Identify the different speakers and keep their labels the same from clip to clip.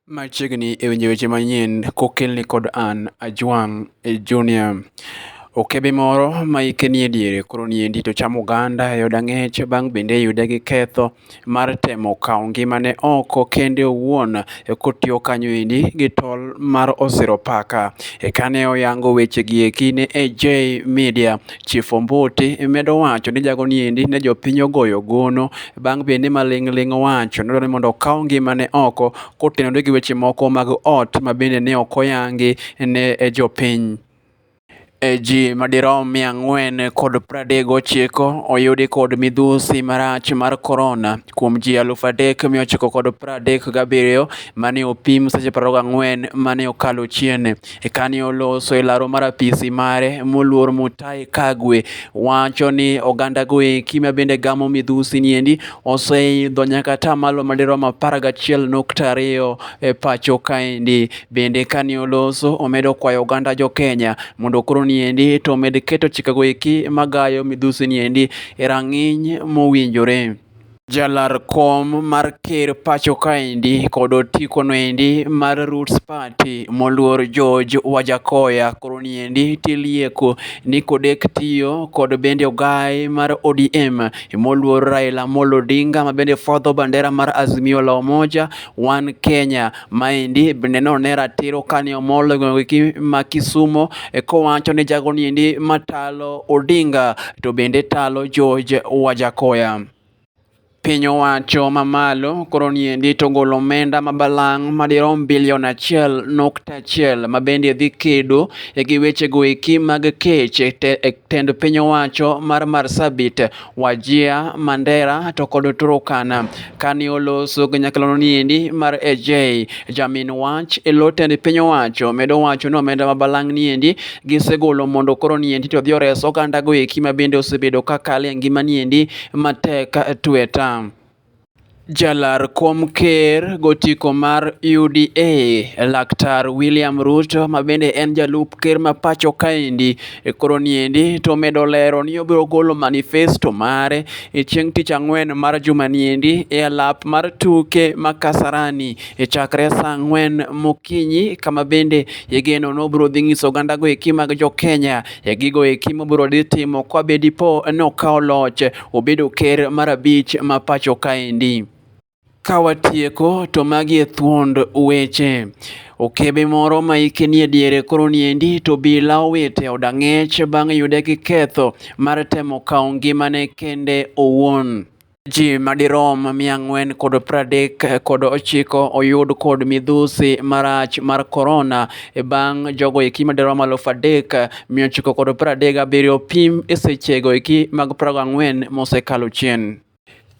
Speaker 1: Machiegni e winjo weche manyien kokelni kod an Ajwang' Junior. Okebe moro ma hike nie diere koro niendi to chamo oganda e od ang'ech bang' bende yude gi ketho mar temo kawo ngimane oko kende owuon kotiyo kanyo endi gi tol mar osiro paka. Ekane oyango weche gi eki ne AJ Media Chief Ombuti medo wacho ni jago ni endi ne jopiny ogoyo gono bang' bende ma ling' ling' owacho nodwaro ni mondo okaw ngimane oko kotenore gi weche moko mag ot ma bende ne ok oyangi ne e jopiny. E ji madirom mia ang'wen kod pradek gochiko oyudi kod midhusi marach mar korona kuom ji alufu adek mia ochiko kod pradek gabiriyo mane opim seche prariyo gang'wen mane okalo chien. Eka ne oloso e laro mar apisi mare moluor Mutahi Kagwe wacho ni oganda goeki ma bende gamo midhusi niendi oseidho nyaka ta malo madirom apar gachiel nukta ariyo e pacho kaendi. Bende kane oloso omedo kwayo oganda jo Kenya mondo koro niendi to omed keto chike goeki magayo midhusi niendi e rang'iny mowinjore. Jalar kom mar ker pacho kaendi kod otiko noendi mar Roots Party moluor George Wajakoya koro niendi tilieko ni kodek tiyo kod bende ogai mar ODM moluor Raila Amolo Odinga ma bende fwadho bandera mar Azimio la Umoja One Kenya. Maendi bende none ratiro kane omol gweng'gi ma Kisumo e kowacho ni jago niendi matalo Odinga to bende talo George Wajakoya. Piny owacho mamalo koro niendi to golo omenda ma balang' madirom bilion achiel nukta achiel ma bende dhi kedo e gi wechego eki mag kech e tend piny owacho mar Marsabit Wajia, Mandera to kod Turukana. Kane oloso kanyaklano niendi mar AJ, jamin wach e lo tend piny owacho medo wacho ni omenda ma balang' niendi gisegolo mondo koro niendi to dhi ores ogandago eki ma bende osebedo ka kale ngima niendi matek tweta. Jalar kom ker gotiko mar UDA laktar William Ruto ma bende en jalup ker ma pacho kaendi e koro niendi to omedo lero ni obiro golo manifesto mare e chieng' tich ang'wen mar juma niendi e alap mar tuke ma Kasarani e chakre saa ang'wen mokinyi kama bende igeno ni obiro dhi nyiso oganda go eki mag jo Kenya e gigo eki mobiro dhi timo kwa be dipo ni okawo loch obedo ker mar abich ma pacho kaendi. Ka watieko to magi e thuond weche. Okebe moro ma ike nie diere koro niendi to bila owito e od ang'ech bang' yude gi ketho mar temo kawo ngimane kende owuon. Ji madirom mia ang'wen kod pradek kod ochiko oyud kod midhusi marach mar korona e bang' jogo eki madirom alufu adek Mia ochiko kod piero adek gabiriyo pim e sechego eki mag prago ang'wen mosekalo chien.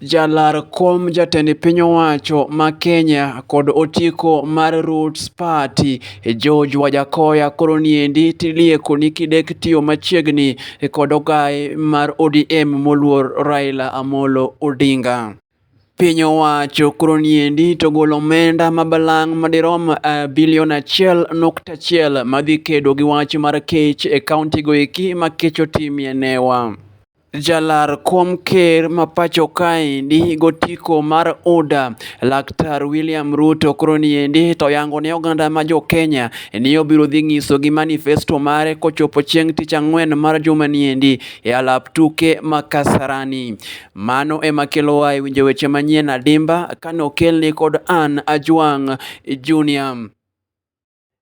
Speaker 1: Jalar kom jatend piny owacho ma Kenya kod otiko mar Roots Party George Wajakoya koro niendi tilieko ni kidek tiyo machiegni kod ogaye mar ODM moluor Raila Amolo Odinga. Piny owacho koro niendi to golo omenda ma balang' madirom eh, bilion achiel nukta achiel madhi kedo gi wach mar kech e kauntigo eki ma kech otimie newa. Jalar kom ker ma pacho kaendi gotiko mar UDA Laktar William Ruto koro niendi to yango ne oganda ma jo Kenya ni obiro dhi ng'iso gi manifesto mare kochopo chieng' tich ang'wen mar juma niendi e alap tuke ma Kasarani. Mano ema kelowa e winjo weche manyien adimba kane okelni kod an Ajwang' Junior.